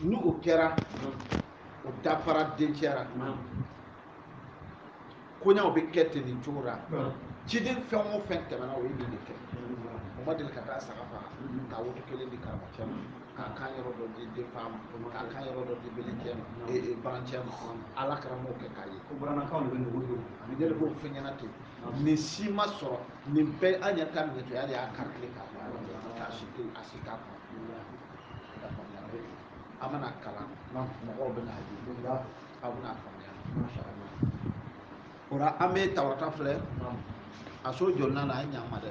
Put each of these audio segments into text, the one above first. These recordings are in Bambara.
ni o kɛra o dafara dencɛ la koɲaw bɛ kɛ ten nin cogo la ciden fɛn o fɛn tɛmɛna o ye nin de kɛ o ma deli ka taa saga faga k'a woto kelen di karamɔgɔcɛ ma k'a kan yɔrɔ dɔ di denfa ma k'a kan yɔrɔ dɔ di belencɛ ma ee barancɛ ma alakira m'a kɛ k'a ye ko bamanankan de bɛ nugu don ani ne de b'o fɛn ɲɛna ten nin si ma sɔrɔ nin bɛɛ an yɛrɛ ka minɛtɔya de y'a karili k'a fɔ yɔrɔ de la k'a si to a si t'a kɔnɔ a mana kalan mɔgɔw bɛn'a ye a bɛna faamuya o la an bɛ tawurata filɛ a so jɔlinan na a ye ɲa an ma dɛ.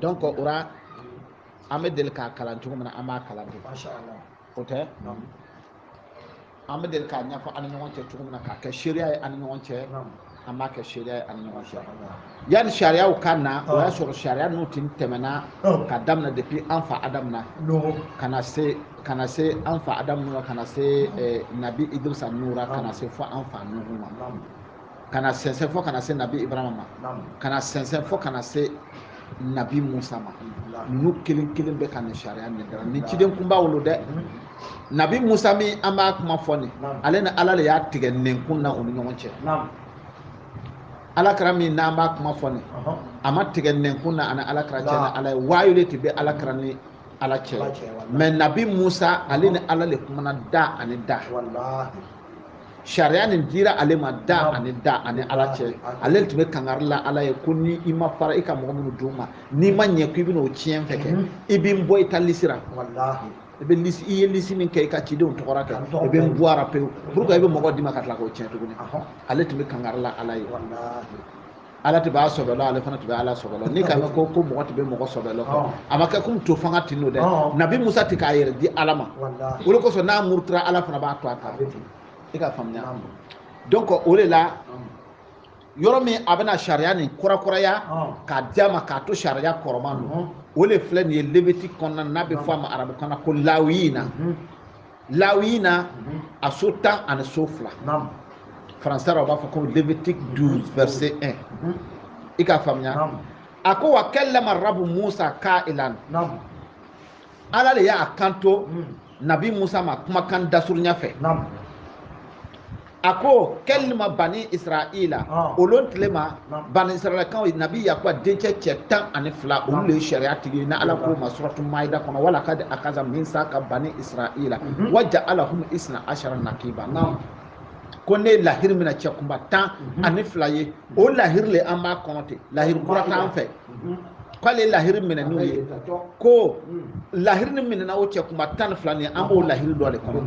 donc o ra an bɛ deli k'a kalan cogo min na an b'a kalan ten o tɛ an bɛ deli k'a ɲɛfɔ an ni ɲɔgɔn cɛ cogo min na k'a kɛ seereya ye an ni ɲɔgɔn cɛ an b'a kɛ seereya ye an ni ɲɔgɔn cɛ yanni sariyaw ka na o y'a sɔrɔ sariya ninnu tun tɛmɛna ka daminɛ depuis an fa adamu na ka na se ka na se an fa adamu na ka na se eh, nabi idirisa ninnu na ka na se fo an fa nuhu ma ka na sɛnsɛn fo ka na se nabi ibrahima ma ka na sɛnsɛn fo ka na se nabi musa ma ninnu kelen kelen bɛɛ ka nin sariya nin dara nin ciden kunbaw lo dɛ nabi musa min an b'a kuma fɔ nin ale ni ala de y'a tigɛ nɛnkun na u ni ɲɔgɔn cɛ alakira min n'an b'a kuma fɔ nin a ma tigɛ nɛnkun na ani alakira cɛ ni ala ye waayu de tun bɛ alakira ni ala cɛ mais nabi musa ale ni ala de kumana da ani da sariya nin dira ale ma da ani da ani ala cɛ ale tun bɛ kangari la ala ye ko ni i ma fara i ka mɔgɔ minnu d'u ma n'i ma ɲɛ ko i bɛna o tiɲɛ fɛ kɛ i bɛ n bɔ i ta lisi ra i bɛ lisi i ye lisi min kɛ i ka cidenw tɔgɔ ra kɛ i bɛ n bɔ a ra pewu pourquoi i bɛ mɔgɔ di n ma ka tila k'o tiɲɛ tuguni ale tun bɛ kangari la ala ye ala tun b'a sɔbɛ lɔn ale fana tun bɛ ala sɔbɛ lɔn n'i k'a mɛn ko mɔgɔ tun bɛ mɔgɔ sɔbɛ lɔn a ma kɛ komi to fanga tin n'o dɛ nabi musa tun k'a yɛrɛ di ala ma o de kosɔn n'a murutura ala fana b'a to a ta i k'a faamuya donc o de la yɔrɔ min a bɛna sariya nin kurakuraya k'a di a ma k'a to sariya kɔrɔman don o de filɛ nin ye lévitique kɔnɔna n'a bɛ fɔ a ma arabukan na ko lawiyina lawiyina a so tan ani so fila français la u b'a fɔ ko lévitique douze verset un i k'a faamuya a ko wa kallama rabu musa ka'ilan ala de y'a kanto hmm. nabi musa ma kumakan dasurunya fɛ a ko kɛlima bani israila ah. o lon tile ma bani israilakaw nabi yakuba dencɛ cɛ tan ani fila olu de ye sariya tigi ye ni ala k'o ma suratu maida kɔnɔ wa lakad akaza misaka bani israila mhm. wa ja'alahum isna ashara nakiba ko ne lahiri mina cɛ kunba tan mhm. ani fila ye o lahiri le an b'a kɔnɔ ten lahiri kura t'an fɛ mhm. k'ale lahiri minɛ n'u ye ko mhm. lahiri nin minɛna o cɛ kunba tan ni fila nin ye an b'o lahiri dɔ de kɔnɔ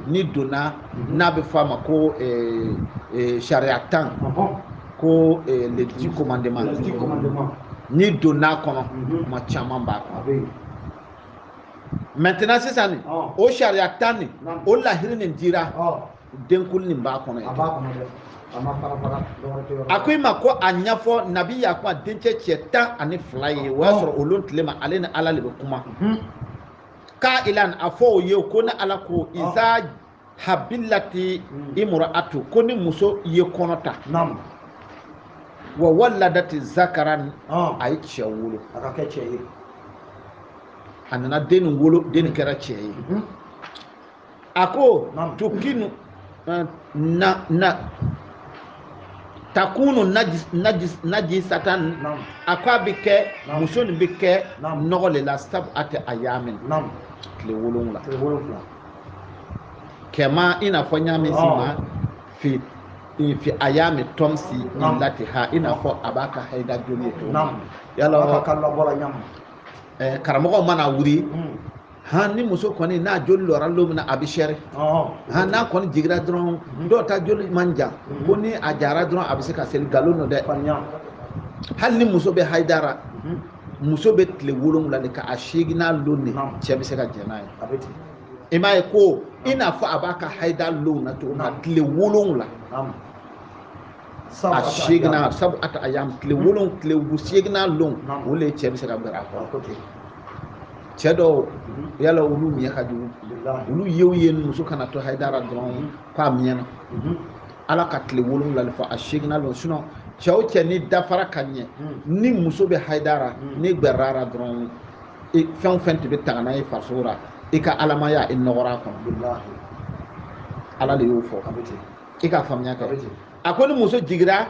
n'i donna mhm. n'a bɛ fɔ a ma ko eh, eh, sariya tan ko eh, les dix commandements n'i donna a kɔnɔ kuma caman b'a kɔnɔ maintenant sisan nin o sariya tan nin o lahiri nin dira denkuli nin b'a kɔnɔ a b'a kɔnɔ dɛ a ma fara fara dɔgɔkɛ tɛ yɔrɔ la. a ko i ma ko a ɲɛfɔ nabi yakuba dencɛ cɛ tan ani fila ye o y'a sɔrɔ o lon tile ma ale ni ala de bɛ kuma Mhm. ka'ilan a fɔ o ye ko ni ala ko iza habilati Mm. imra'atu ko ni muso ye kɔnɔ ta naamu wa waladati zakaran ɔn a ye cɛ wolo a ka kɛ cɛ ye a nana den nin wolo den nin kɛra cɛ ye Mhm. a ko tukinu eh, na na takunu najis najis najisatan a ko a bɛ kɛ muso nin bɛ kɛ nɔgɔ de la sabu'ata ayamin tile wolonwula kama i n'a fɔ n y'a min si ma fi fi ayami tɔmsi illatiha i n'a fɔ a b'a ka hayida joli ye cogo min yala karamɔgɔ mana wuli. han ni muso kɔni n'a joli lɔra don min na a bɛ sɛri han n'a kɔni jigira dɔrɔn dɔw ta joli man jan ko ni a jara dɔrɔn a bɛ se ka seli nkalon don dɛ hali ni muso bɛ hayida ra muso bɛ tile wolonwula de kɛ a seeginan lon de cɛ bɛ se ka jɛn n'a ye i m'a ye ko i n'a fɔ a b'a ka hayida lon na cogo min na tile wolonwula a seeginan sabu'ata ayam tile wolon tile bu seeginan lon o le cɛ bɛ se ka gbɛrɛ a kɔrɔ cɛ dɔw yala olu miɲɛ ka jugu olu yew ye muso kana to hayida ra dɔrɔn k'a miɲɛ na ala ka tile wolonwula de fɔ a seeginan lon sinon cɛ o cɛ n'i dafara ka ɲɛ ni muso bɛ hayida ra n'i gbɛrɛra a ra dɔrɔn fɛn o fɛn tun bɛ taga n'a ye farisogo la i ka alamaya i nɔgɔra a kɔnɔ ala de y'o fɔ a bɛ ten i ka faamuya kɛ a ko ni muso jigira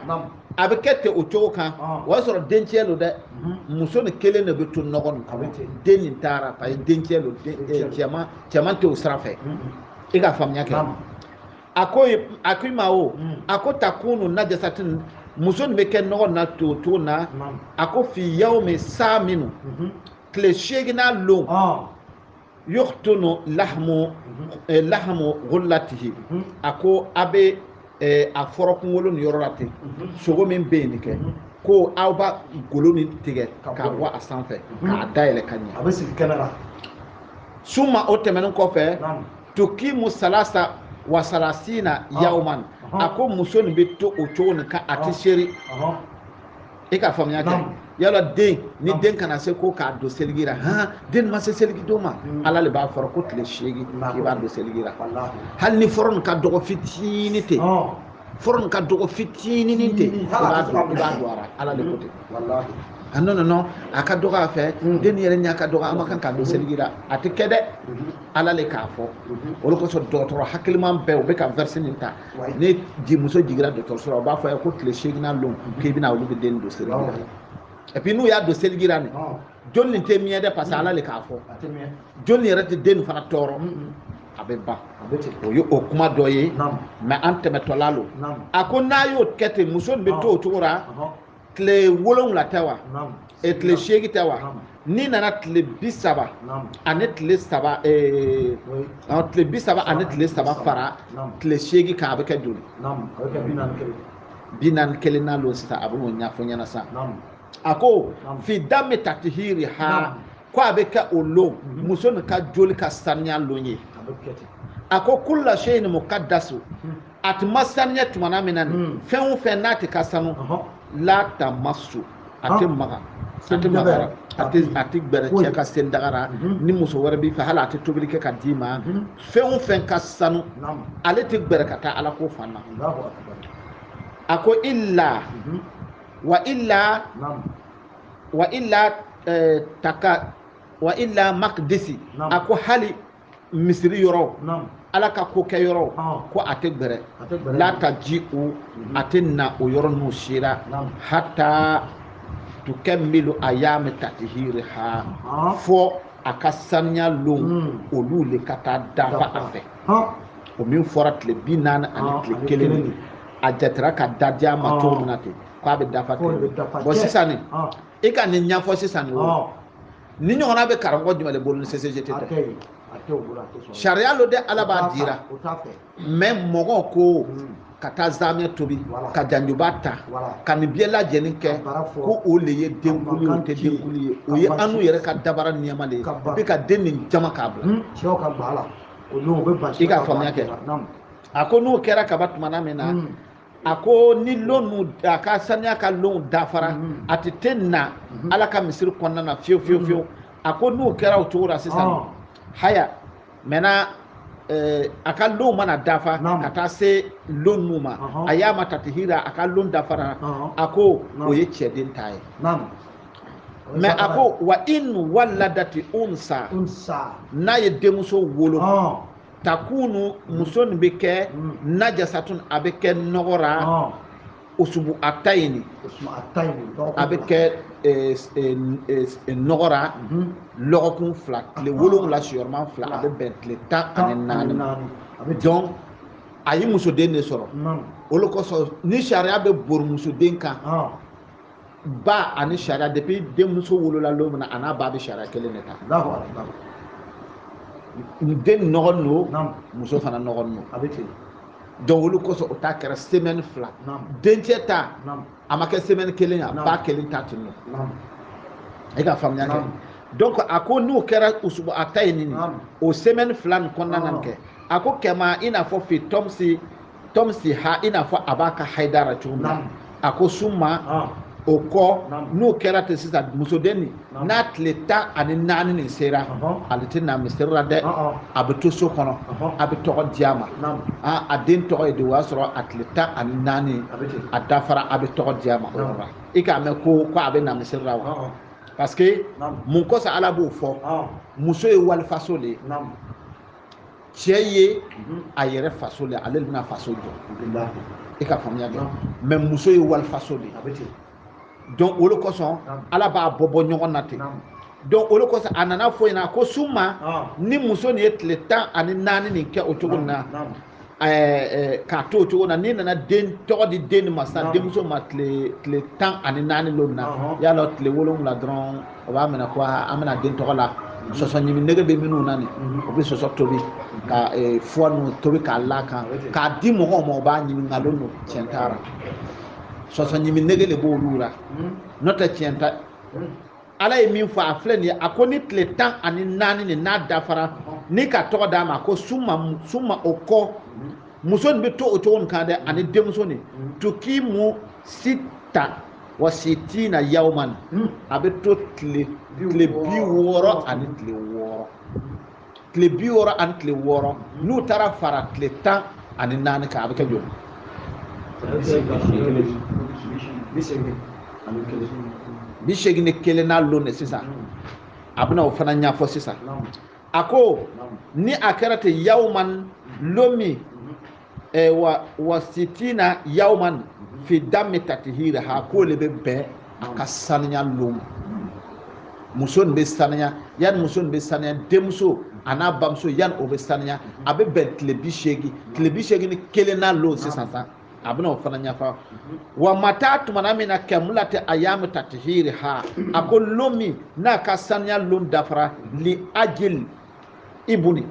a bɛ kɛ ten o cogo kan ah. o y'a sɔrɔ dencɛ don dɛ mhm. muso ni kelen de bɛ to nɔgɔ nin kɔnɔ den nin taara parce que dencɛ don eh, cɛman cɛman tɛ o sira fɛ mhm. i ka faamuya kɛ a ko a ko i ma o mhm. a ko takunu najasatin muso nin bɛ kɛ nɔgɔ na to cogo na a ko fi yawmi saminu tile seeginnan lon ah. yuhtunu lahamu eh, lahamu ghullatihi mhm. a ko a bɛ eh, a fɔrɔ kunkolo nin yɔrɔ la ten mhm. sogo min bɛ yen nin kɛ mhm. ko aw b'a golo nin tigɛ k'a bɔ a sanfɛ k'a dayɛlɛ ka ɲɛ a bɛ sigi kɛnɛ la summa o tɛmɛnen kɔfɛ tukimu salasa wa salasina ah. yawman ah. a ko muso nin bɛ to o cogo nin kan a tɛ ah. seri i ka faamuya kɛ yala den ni den kana se ko k'a don seligi la han den ma se seligi don ma mm. ala le b'a fɔra ko tile seegin i b'a don seligi la hali ni fɔrɔ nin ka dɔgɔ fitini ten fɔrɔ nin ka dɔgɔ fitininin ten i b'a don i b'a don a ra ala le ko ten ah non non a ka dɔgɔ a fɛ mm. den yɛrɛ ɲɛ ka dɔgɔ an ma kan k'a don mm-hmm. seligi la a tɛ kɛ dɛ mm-hmm. ala le k'a fɔ mm-hmm. o de kosɔn dɔgɔtɔrɔ hakiliman bɛɛ u bɛ ka verset nin ta ni muso jigira dɔgɔtɔrɔso la u b'a fɔ i ye ko tile seeginnan lon k'i bɛ na olu bɛ den don seliji la et puis n'u y'a don seliji la nin joli nin tɛ mɛɛn dɛ parce que ala le k'a fɔ joli yɛrɛ tɛ den nin fana tɔɔrɔ a bɛ ban o ye o kuma dɔ ye mais an tɛmɛtɔla lo a ko n'a y'o kɛ ten muso nin bɛ to o cogo la tile wolonwula tɛ wa e tile seegin tɛ wa n'i nana tile bi saba ani tile saba eh, tile bi saba ani tile saba fara tile seegin kan a bɛ kɛ joli bi naani kelennan lon sisan a bɛ n'o ɲɛfɔ ɲɛna sisan a ko fi dami tatihiriha ko a bɛ kɛ o lon mhm. muso nin ka joli ka saniya lon ye a ko kulla seyin mukadasu mhm. a tɛ ma saniya tumana min na nin hmm. fɛn o fɛn n'a tɛ ka sanu la tamassu a tɛ maga a tɛ maga a tɛ a tɛ gbɛrɛ cɛ ka selidaga ra mhm. ni muso wɛrɛ b'i fɛ hali a tɛ tobili kɛ ka d'i ma mhm. fɛn o fɛn ka sanu ale tɛ gbɛrɛ ka taa ala ko fan na a ko illa mhm. wa illa wa illa eh, taka wa illa makdisi a ko hali misiri yɔrɔw ala ka ko kɛyɔrɔw ko a tɛ gbɛrɛ la taji o mhm. a tɛ na o yɔrɔ ninnu sera hatta tukamilu ayami tatihiriha fɔ a ka saniya lon hmm. olu le ka taa dafa a fɛ o min fɔra tile bi naani ani ah, tile kelen de a jatera ka da diya ma cogo ah. min na ten k'a bɛ dafa ten bon sisan nin ah. i ka nin ɲɛfɔ sisan nin o nin ɲɔgɔnna bɛ karamɔgɔ jumɛn de bolo ni CCGT tɛ sariya lo dɛ ala b'a dira mais mɔgɔ ko hmm. ka taa zamɛ tobi ka janjuba ta ka nin bɛɛ lajɛlen kɛ ko o le ye denkuli ye o tɛ denkuli ye o ye anu yɛrɛ ka dabara niyama de ye bɛ ka den nin jama k'a bila hmm. i ka faamuya kɛ a ko n'o kɛra ka ban tumana min na hmm. a ko ni lon a ka saniya ka lon dafara mhm. a tɛ te na mhm. ala ka misiri kɔnɔna na fiyewu fiyewu mhm. fiyewu a ko n'o kɛra o cogo la sisan ah. haya maintenant eh, a ka lon mana dafa ka taa se lon nu ma ayama tatihira a ka lon dafara a ko o ye cɛden ta ye mais a ko wa in waladati unsa n'a ye denmuso wolo ah. takunu muso nin bɛ kɛ najasatun a bɛ kɛ nɔgɔ la usubu atayini a bɛ kɛ nɔgɔ la lɔgɔkun fila tile wolonwula siyɔrɔma fila a bɛ bɛn tile tan ani naani donc a ye musoden de sɔrɔ o le kosɔn nin sariya bɛ bori musoden kan ba ani sariya depuis denmuso wolola don min na a n'a ba bɛ sariya kelen de ta den nɔgɔnin don muso fana nɔgɔnin don a bɛ ten donc o le kosɔn o ta kɛra semaine fila dencɛ ta a ma kɛ semaine kelen a ba kelen ta tun don e ka faamuya kɛ donc a ko n'o kɛra usubu atayini o semaine fila nin kɔnɔna na nin kɛ a ko kama i n'a fɔ fi tɔmsi tɔmsiha i n'a fɔ a b'a ka haida la cogo min na a ko suma ah. o kɔ n'o kɛra ten sisan musoden nin n'a tile tan ani naani nin sera ale tɛ na misiri la dɛ a bɛ to so kɔnɔ a bɛ tɔgɔ di a ma a den tɔgɔ ye de o y'a sɔrɔ a tile tan ani naani a dafara a bɛ tɔgɔ di a ma o yɔrɔ la i k'a mɛn ko ko a bɛ na misiri la wa parce que mun kɔsɔn ala b'o fɔ muso ye walifaso de ye cɛ ye a yɛrɛ faso de ale bɛna faso jɔ i ka faamuya kɛ mais muso ye walifaso de ye donc o de kosɔn ala b'a bɔ bɔ ɲɔgɔn na ten donc o de kosɔn a nana fɔ ɲɛna ko suma ni muso nin ye tile tan ani naani nin kɛ o cogo nin na k'a to o cogo na n'i nana den tɔgɔ di den ma sisan denmuso ma tile tan ani naani don na y'a dɔn tile wolonwula dɔrɔn o b'a minɛ ko an bɛna den tɔgɔ la sɔsɔ ɲimi nege bɛ minnu na nin o bɛ sɔsɔ tobi ka foie ninnu tobi k'a la kan k'a di mɔgɔw ma o b'a ɲimi nkalon don tiɲɛ t'a la sɔsɔ ɲimi nege de b'olu la n'o tɛ tiɲɛ t'a ala ye min fɔ a filɛ nin ye a ko ni tile tan ani naani nin n'a dafara ni ka tɔgɔ d'a ma ko suma o kɔ muso nin bɛ to o cogo nin kan dɛ ani denmuso nin tukimu sita wa sitina yawman a bɛ to tile tile bi wɔɔrɔ ani tile wɔɔrɔ tile bi wɔɔrɔ ani tile wɔɔrɔ n'u taara fara tile tan ani naani kan a bɛ kɛ joli bi seegin ni kelennan lon de sisan a bɛna o fana ɲɛfɔ sisan a ko ni a kɛra ten yawman lon min eh, wa wa sitina yawman fi dami tatihira ha k'o le bɛ bɛn a ka saniya lon muso nin bɛ saniya yanni muso nin bɛ saniya denmuso an'a bamuso yanni o bɛ saniya a bɛ bɛn tile bi seegin tile bi seegin ni kelennan lon sisan sa a bɛna o fana ɲɛfɔ wa mata tumana min na kamulati ayamu tatihiri ha a ko lon min n'a ka saniya lon dafara li ajeli ibuni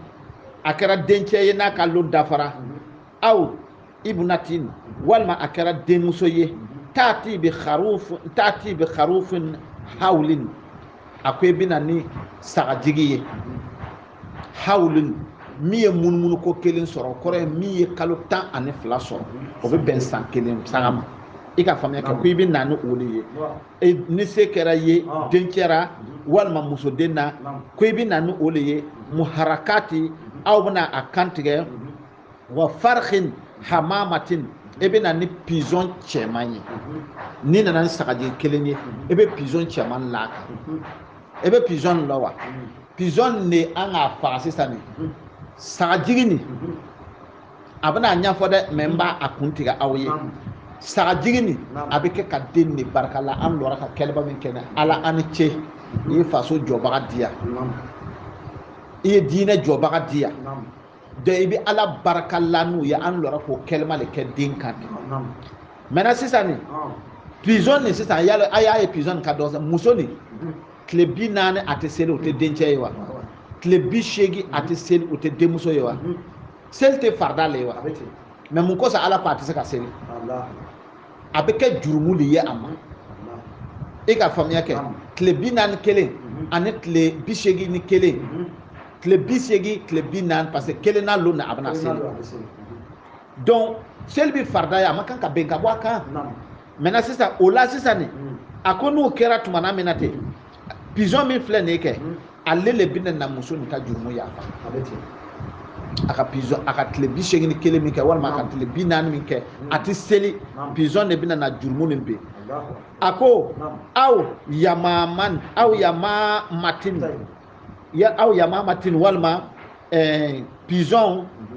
a kɛra dencɛ ye n'a ka lon dafara aw ibnatin walima a kɛra denmuso ye taati bi kharufin hawlin a ko i bɛ na ni sagajigi ye hawlin min ye munumunu ko kelen sɔrɔ o kɔrɔ ye min ye kalo tan ani fila sɔrɔ o bɛ bɛn san kelen saga ma i ka faamuya kɛ ko i bɛ na ni o de ye e ni se kɛra ye ah. dencɛ ra walima musoden na ko i bɛ na ni o de ye mhm. muharakati mhm. aw bɛna a kan tigɛ mhm. wa farihin hamamatin e bɛ na ni pizɔn cɛman ye n'i nana ni sagajigi kelen ye e bɛ pizɔn cɛman l'a kan e bɛ pizɔn lɔn wa pizɔn de an k'a faga sisan nin sagajigi nin a bɛna a ɲɛfɔ dɛ mais n b'a kun tigɛ aw ye sagajigi nin a bɛ kɛ ka den de barika la an lɔra ka kɛlɛba min kɛ ala an ni ce i ye faso jɔbaga di yan i ye diinɛ jɔbaga di yan donc i bɛ ala barika la n'u ye an lɔra k'o kɛlɛma de kɛ den kan de maintenant sisan nin pizɔn nin sisan yala a y'a ye pizɔn nin ka dɔgɔ muso nin tile bi naani a tɛ seli o tɛ dencɛ ye wa tile bi seegin a tɛ seli o tɛ denmuso ye wa seli tɛ farida le ye wa mais mun kosɔn ala ko a tɛ se ka seli a bɛ kɛ jurumu de ye a ma e ka faamuya kɛ tile bi naani kelen mhm. ani tile bi seegin ni kelen mhm. tile bi seegin tile bi naani parce que kelennan lon na a bɛna seli donc seli bɛ farida ye a man kan ka bin ka bɔ a kan maintenant sisan o la sisan nin mm. a ko n'o kɛra tumana min na ten pigeon min filɛ nin ye kɛ mm. ale le bɛna na muso nin ka jurumu yafa a ka pigeon a ka tile bi seegin ni kelen min kɛ walima a ka tile bi naani min kɛ mm. a tɛ seli pigeon de bɛna na jurumu nin bɛ a ko aw yamamatin walima eh, pigeon mm-hmm.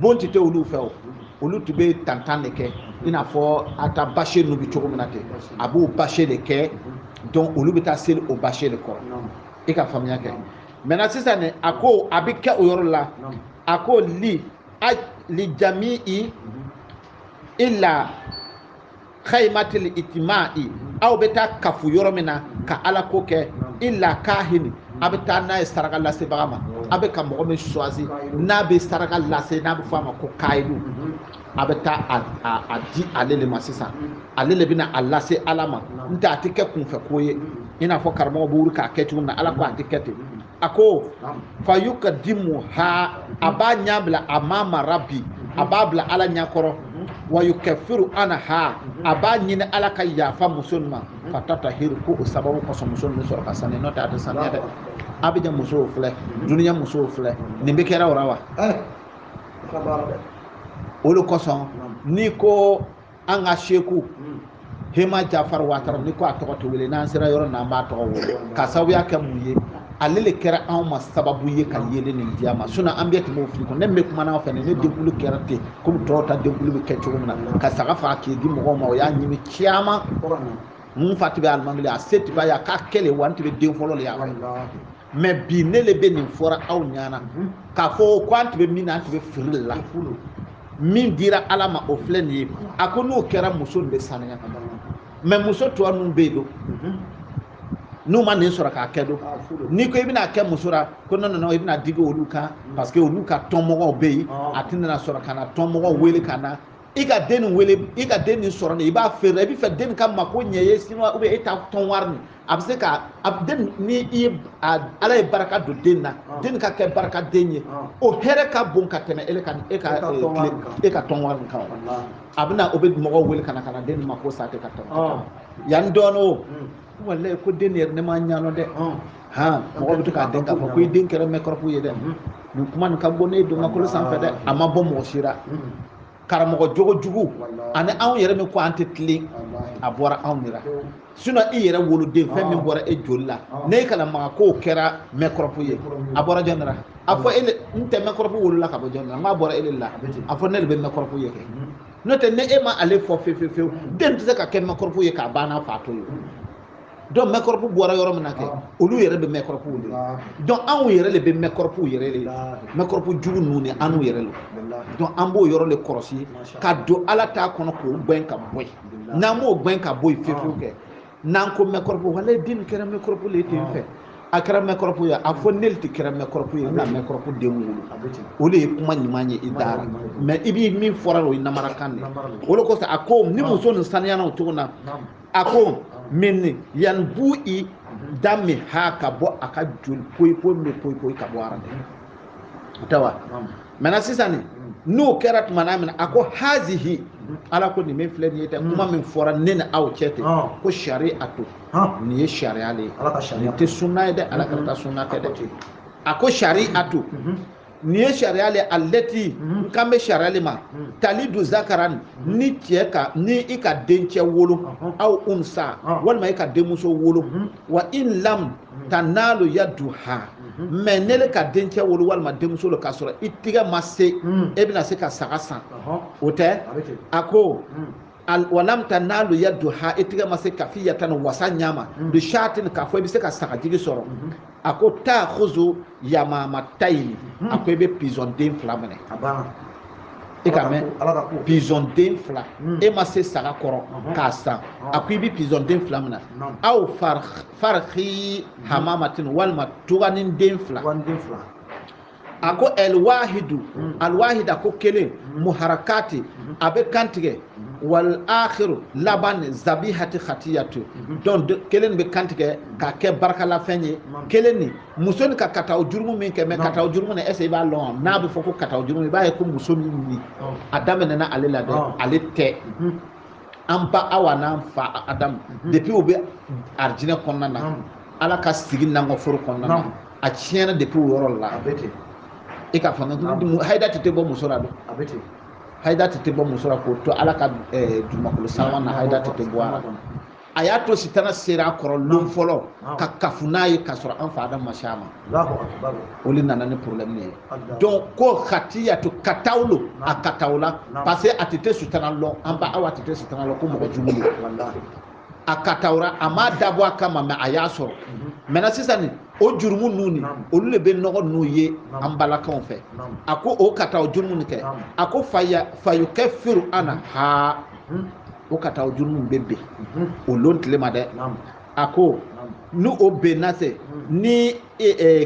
bon tun tɛ olu fɛ o olu tun bɛ tantan de kɛ i n'a fɔ a ta bâche ninnu bɛ cogo min na ten a b'o bâche de kɛ donc olu bɛ taa seli o bâche de kɔrɔ i ka faamuya kɛ maintenant sisan ne a ko a bɛ kɛ o yɔrɔ la a ko li a li jami'i ila khaymatil itima'i aw bɛ taa kafu yɔrɔ min na ka ala ko kɛ ila kahini a bɛ taa n'a ye saraka lasebaga ma a bɛ ka mɔgɔ min choisi n'a bɛ saraka lase n'a bɛ fɔ a ma ko kayidu a bɛ taa a di ale de ma sisan ale de bɛna a lase ala ma n'o tɛ a tɛ kɛ kunfɛ ko ye i n'a fɔ karamɔgɔ bɛ wuli k'a kɛ cogo min na ala ko a tɛ kɛ ten a ko fa yukadimuha a b'a ɲa bila amama rabbi a b'a bila ala ɲa kɔrɔ wa yukafiru anaha a b'a ɲini ala ka yafa muso in ma fa tatahiru ko o sababu kosɔn muso in bɛ sɔrɔ ka saniya n'o tɛ a tɛ saniya dɛ a bɛ jɛ musow filɛ duniya musow filɛ nin bɛ kɛra o la wa o de kosɔn n'i ko an ka seku hema jafar watara ni ko a tɔgɔ tɛ wele n'an sera yɔrɔ na an b'a tɔgɔ wele ka sababuya kɛ mun ye ale le kɛra anw ma sababu ye ka yeelen nin di an ma sinon an bɛɛ tun b'o fili kɔnɔ ne bɛ kuma n'aw fɛ ne denkulu kɛra ten komi tɔw ta denkulu bɛ kɛ cogo min na ka saga faga k'i di mɔgɔw ma o y'a ɲimi caman mun fa tun bɛ alimami le a se tun b'a ye a k'a kɛ le wa n tun bɛ den fɔlɔ le ye a mais bi ne le bɛ nin fɔra aw ɲana mhm. k'a fɔ ko an tun bɛ min na an tun bɛ fili de la min dira ala ma o filɛ nin ye a ko n'o kɛra muso nin bɛ saniya mais muso tɔ ninnu bɛ yen don mhm. n'u ma nin sɔrɔ k'a kɛ don ah, n'i ko i bɛna kɛ muso la ko non i bɛna digi olu kan mhm. parce que olu ka tɔnmɔgɔw bɛ yen ah. a tɛna sɔrɔ ka na tɔnmɔgɔw wele ka na i ka den nin wele i ka den nin sɔrɔ nin i b'a feere i bɛ fɛ den ka mako ɲɛ ye sinon ou bien e ta tɔn wari nin a bɛ se ka a den ni i ye ala ye barika don den na den ka kɛ barika den ye o hɛrɛ ka bon ka tɛmɛ e ka e ka e ka tɔn wari nin kan a bɛna o bɛ mɔgɔw wele ka na ka na den mako sa tɛ ka tɔn yanni dɔɔnin o walayi ko den yɛrɛ ne ma ɲanɔ dɛ han mɔgɔ bɛ to k'a dɔn k'a fɔ ko i den kɛra microbe ye dɛ nin kuma nin ka bɔnen don kabakolo sanfɛ dɛ a ma bɔ mɔgɔ si la karamɔgɔ jogo jugu ani anw yɛrɛ min ko an tɛ tilen a bɔra anw de la sinɔn i yɛrɛ woloden fɛn min bɔra e joli la n'e kana maga k'o kɛra mɛkɔrɔpu ye a bɔra jɔn de la a fɔ ele n tɛ mɛkɔrɔpu wolola ka bɔ jɔn de la n k'a bɔra ele la a fɔ ne de bɛ mɛkɔrɔpu ye kɛ n'o tɛ n'e ma ale fɔ fewu fewu fewu den tɛ se ka kɛ mɛkɔrɔpu ye k'a ba n'a fa to yen donc mɛkɔrɔpu bɔra yɔrɔ min na kɛ olu yɛrɛ bɛ mɛkɔrɔpuw de donc anw yɛrɛ de bɛ mɛkɔrɔpuw yɛrɛ de mɛkɔrɔpu jugu ninnu ni anw yɛrɛ lo donc an b'o yɔrɔ de kɔlɔsi ka don ala ta kɔnɔ k'o gɛn ka bɔ yen n'an m'o gɛn ka bɔ yen fewu kɛ n'an ko mɛkɔrɔpu walayi den kɛra mɛkɔrɔpu le ten fɛ a kɛra mɛkɔrɔpu ye a fɔ ne le tun kɛra mɛkɔrɔpu ye n na mɛkɔrɔpu den wolo o de ye kuma ɲuman ye i da ra mais i bɛ min fɔra o ye namarakan de ye o de kosɔn a ko ni muso nin saniyana o tuma na a ko min yanbu'i damiha ka bɔ a ka joli poyi poyi min poyi poyi ka bɔ a ra dɛ o tɛ wa mɛna sisan ni n'o kɛra tuma na min a ko hazihi ala ko nin min filɛ nin ye ten kuma min fɔra ne ni aw cɛ ten ko sari'atu nin ye sariya de ye nin tɛ sunna ye dɛ ala ka ta sunna tɛ dɛ a ko sari'atu nin ye sariya le alati n kan bɛ sariya le ma talidu zakaran ni cɛ ka ni i ka dencɛ wolo aw unsa walima i ka denmuso wolo wa in lam tanalu yaduha mais n'ele ka dencɛ wolo walima denmuso lo k'a sɔrɔ i tigɛ ma se e bɛna se ka saga san o tɛ a ko walam tanalu yaduha i tigɛ ma se kafiyatan wasa ɲa ma mm-hmm. bi shatin k'a fɔ i bɛ se ka sagajigi sɔrɔ mm-hmm. a ko takuzu yamamatayini mm-hmm. a ko i bɛ pizɔn den fila minɛ i k'a mɛn pizɔn den fila mm. e ma se saga kɔrɔ uh-huh. k'a san uh-huh. a ko i bɛ pizɔn den fila minɛ aw fariki hamamatin walima tuganin den fila a ko alwahidu alwahid a ko kelen muharakati a bɛ kantigɛ wal akhiru laban zabihati khatiyatu donc kelen bɛ kantigɛ ka kɛ barakalafɛn ye kelennin muso nin ka kataw jurumu min kɛ mais kataw jurumu na est ce que i b'a lɔn n'a bɛ fɔ ko kataw jurumu i b'a ye ko muso nin a daminɛna ale la dɛ ale tɛ an ba awa n'an fa adamu depuis u bɛ arijinɛ kɔnɔna na ala k'a sigi nangɔforo kɔnɔna na a tiɲɛna depuis o yɔrɔ la a bɛ ten e k'a fɔ n ka hayida tun tɛ bɔ muso la dɛ a bɛ ten hayida tun tɛ bɔ muso la k'o to ala ka dugumakolo sanma na hayida tun tɛ bɔ a la a y'a to sitana sera a kɔrɔ lon fɔlɔ ka kafu n'a ye k'a sɔrɔ an fa adam ma se a ma o de nana ni problème ye donc ko khatiyatu kataw lo a katawla parce que a tun tɛ sitana lɔn an ba awa tun tɛ sitana lɔn ko mɔgɔ jugu lo a kataw ra a m'a dabɔ a kama mɛ a y'a sɔrɔ mɛna sisan nin o jurumu ninnu ni olu de bɛ nɔgɔ ninnu ye an balakaw fɛ a ko o kataw jurumu ni kɛ a ko faya fayukafiru anhaa o kataw jurumu bɛ ben o lon tile ma dɛ a ko ni o bɛna se ni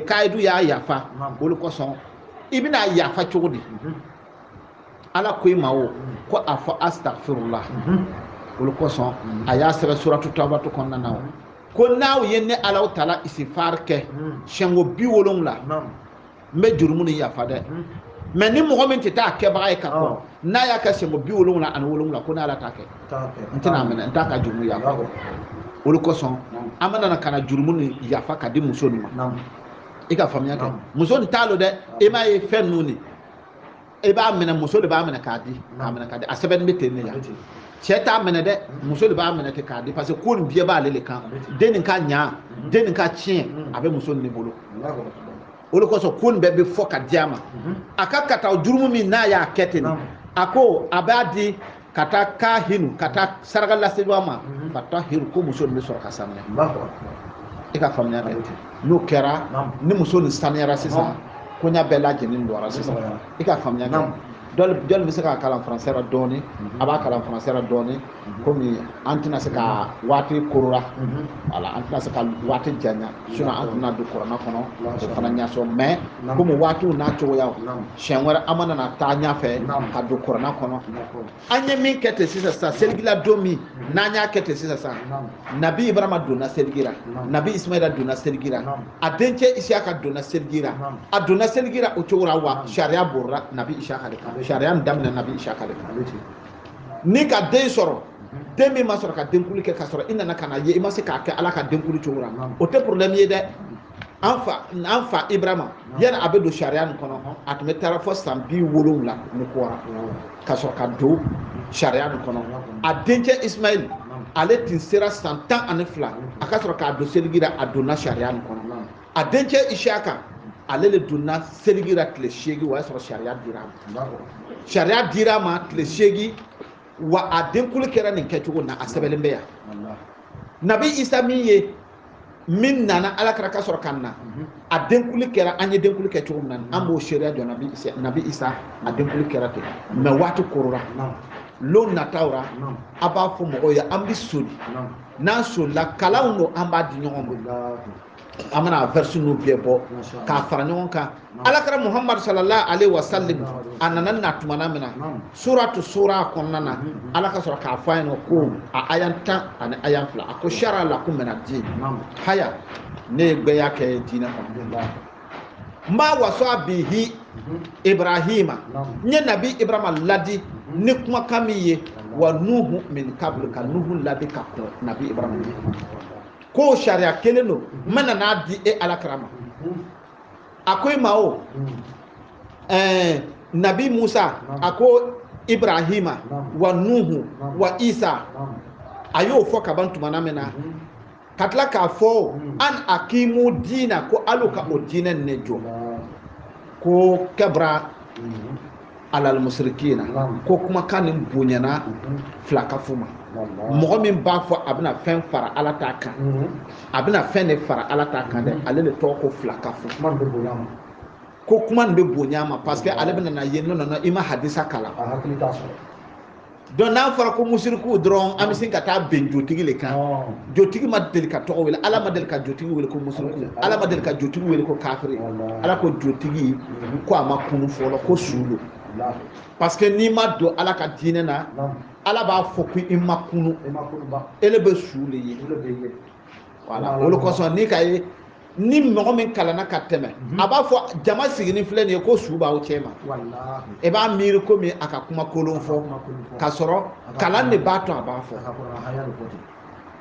kayidu y'a yafa o le kosɔn i bɛna a yafa cogo di ala ko i ma o ko a fɔ astagfirula o le kosɔn a y'a sɛbɛn suratu tawbatu kɔnɔna na o ko n'aw ye ne ala taala isifar kɛ siɲɛko bi wolonwula n bɛ jurumu ni yafa dɛ mɛ ni mɔgɔ min tɛ taa kɛbaga ye ka kɔrɔ n'a y'a kɛ siɲɛko bi wolonwula ani wolonwula ko ne ala t'a kɛ n tɛna minɛ n t'a ka jurumu yafa o le kosɔn an mana na ka na jurumu ni yafa k'a di muso nin ma i ka faamuya kɛ muso nin ta lo dɛ e m'a ye fɛn ninnu ni e b'a minɛ muso de b'a minɛ k'a di k'a minɛ k'a di a sɛbɛnnin bɛ ten de yan cɛ t'a minɛ dɛ muso de b'a minɛ ten k'a di parce que ko nin bɛɛ b'ale de kan den nin ka ɲa den nin ka tiɲɛ a bɛ muso nin de bolo o de kosɔn ko nin bɛɛ bɛ fɔ k'a di a ma a ka kataw jurumu min n'a y'a kɛ ten a ko a b'a di ka taa kahinu ka taa sarakalasebaa ma mhm. ka tahiru ko muso nin bɛ sɔrɔ ka sanuya e ka faamuya kɛ n'o kɛra ni muso nin sanuyara sisan koɲa bɛɛ lajɛlen dɔra sisan e ka faamuya kɛ dɔli bɛ se k'a kalan faransɛ la dɔɔni mhm. a b'a kalan faransɛ la dɔɔni mhm. komi an tɛna se ka waati korora voilà an tɛna se ka waati janya sinɔn an tun na don kurana kɔnɔ o fana ɲɛsɔn mɛ komi waati n'a cogoyaw siɲɛ wɛrɛ an mana na taa ɲɛfɛ ka don kurana kɔnɔ an ye min kɛ ten sisan sisan seligila don min n'an y'a kɛ ten sisan sisan nabi ibrahima donna seligi ra nabi ismaila donna seligi ra a dencɛ isiyaka donna seligi ra a donna seligi ra o cogo la wa sariya borira nabi isiyaka de kan sariya nin daminɛ nabi isiyaka de kan n'i ka den sɔrɔ den min ma sɔrɔ ka denkuli kɛ ka sɔrɔ i nana ka n'a ye i ma se k'a kɛ ala ka denkuli cogo la o tɛ problème ye dɛ an fa ibrahima yani a bɛ don sariya nin kɔnɔ a tun bɛ taara fɔ san bi wolonwula ni kɔ ra ka sɔrɔ ka don sariya nin kɔnɔ a dencɛ ismail ale tun sera san tan ani fila a ka sɔrɔ k'a don seligi ra a donna sariya nin kɔnɔ a dencɛ isiyaka ale de donna seligi ra tile seegin o y'a sɔrɔ sariya dira a ma sariya dira a ma tile seegin wa a denkuli kɛra nin kɛcogo na a sɛbɛnlen bɛ yan nabi isa min ye min nana ala kira ka sɔrɔ ka na mhm. a denkuli kɛra an ye denkuli kɛ cogo min na an mhm. b'o seereya jɔ nabi isa a denkuli kɛra ten mɛ waati korora lon nataw ra a b'a fɔ mɔgɔw ye an bɛ soli n'an solila kalanw don an b'a di ɲɔgɔn ma an mana vɛrisi ninnu bɛɛ bɔ k'a fara ɲɔgɔn kan ala kira muhammadu sallallahu alaihi wa sallim a nana na tumana min na suratu sura kɔnɔna na ala ka sɔrɔ k'a fɔ a ɲɛna ko a aya tan ani aya fila a ko sara lakum mina diin haya ne ye gbɛya kɛ diinɛ kɔnɔ ma wasa bihi ibrahima n ye nabi ibrahima ladi ni kumakan min ye wa nuhu min kabulu ka nuhu ladi ka kɔn nabi ibrahima ye k'o sariya kelen don n bɛna n'a di e ala kira ma a ko i ma o eh, nabi musa a ko ibrahima wa nuhu wa isa a y'o fɔ kaban tumana min na mhm. ka tila k'a fɔ mhm. an akimu diina ko alu ka o diinɛ ne jɔ ko kabura mhm. alalimusirikina ko kumakan nin bonyana filankafow ma mɔgɔ min b'a fɔ a bɛna fɛn fara ala ta kan mhm. a bɛna fɛn de fara ala ta kan dɛ mhm. ale de tɔgɔ ko filankafo kuma bɛ bonya ma ko kuma nin bɛ bonya ma parce que ale bɛna na ye non non i ma hadisa kalan a hakili t'a sɔrɔ donc n'a fɔra ko musiriku dɔrɔn an bɛ sin ka taa bɛn jotigi de kan jotigi ma deli ka tɔgɔ wele ala ma deli ka jotigi wele ko musiriku ala ma deli ka jotigi wele ko kafiri ala ko jotigi ko a ma kunun fɔlɔ ko su don parce que n'i ma don ala ka diinɛ na ala b'a fɔ ko i ma kunun ele bɛ su de ye voilà o le kosɔn n'i k'a ye ni mɔgɔ min kalanna ka tɛmɛ mhm. a b'a fɔ jama siginin filɛ nin ye ko su b'aw cɛma i b'a miiri komi a ka kuma kolon fɔ ka sɔrɔ kalan de b'a to a b'a fɔ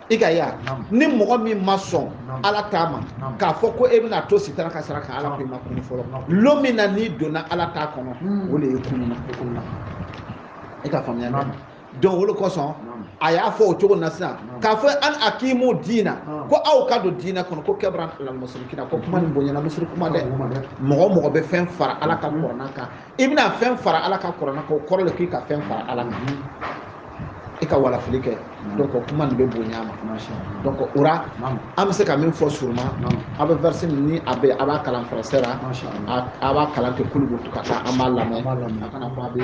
i ka ya ni mɔgɔ min ma sɔn ala ta ma k'a fɔ ko e bɛna to sitana ka sira kan ala ko i ma kunun fɔlɔ lon min na n'i donna ala ta kɔnɔ hmm. o de ye kununna e ka faamuya donc o le kosɔn a y'a fɔ o cogo na sisan k'a fɔ an akimu diina ko aw ka don diina kɔnɔ ko kabura alalimusirikina ko kuma nin bonyana musiriku ma dɛ mɔgɔ mɔgɔ bɛ fɛn fara ala ka kɔrɔna kan i bɛna fɛn fara ala ka kɔrɔna kan o kɔrɔ le k'i ka fɛn fara ala kan i ka walafili kɛ donc kuma nin bɛ bonya a ma donc o ra an bɛ se ka min fɔ suruma a bɛ verset min ni a bɛ a b'a kalan français la a b'a kalan ten k'olu bɛ to ka taa an b'a lamɛn a kana fɔ a bɛ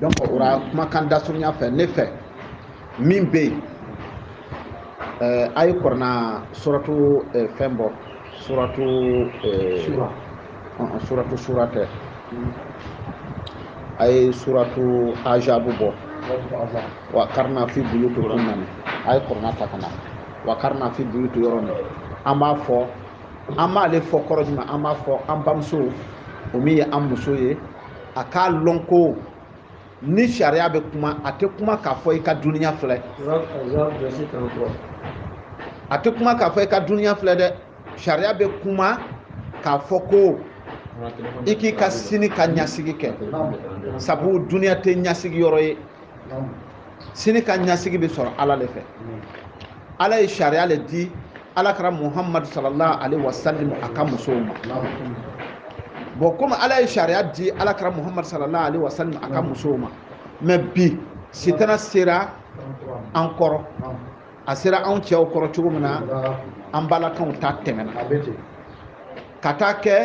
donc o la kumakan dasurunya fɛ ne fɛ min bɛ yen eh, a ye kɔrɔna suratu eh, fɛn bɔ suratu eh, uh-uh, suratu sura tɛ a ye suratu ajabu bɔ wa karina fi buyutikunna nin a ye kɔrɔna ta ka na wa karina fi buyutu yɔrɔ min an b'a fɔ an b'ale fɔ kɔrɔ jumɛn an b'a fɔ an bamuso o min ye an muso ye a k'a lɔn ko ni sariya bɛ kuma a tɛ kuma k'a fɔ i ka duniya filɛ a tɛ kuma k'a fɔ i ka duniya filɛ dɛ sariya bɛ kuma k'a fɔ ko i k'i ka sini ka ɲɛsigi kɛ sabu duniya tɛ ɲɛsigi yɔrɔ ye sini ka ɲɛsigi bɛ sɔrɔ ala le fɛ ala ye sariya le di ala kira muhamadu sallallahu alaihi wa sallam a ka musow ma bon komi ala ye sariya di ala kira muhamadu sallallahu alaihi wa sallam a ka musow ma mais bi sitana sera an kɔrɔ a sera anw cɛw kɔrɔ cogo min na an balakaw ta tɛmɛna ka taa kɛ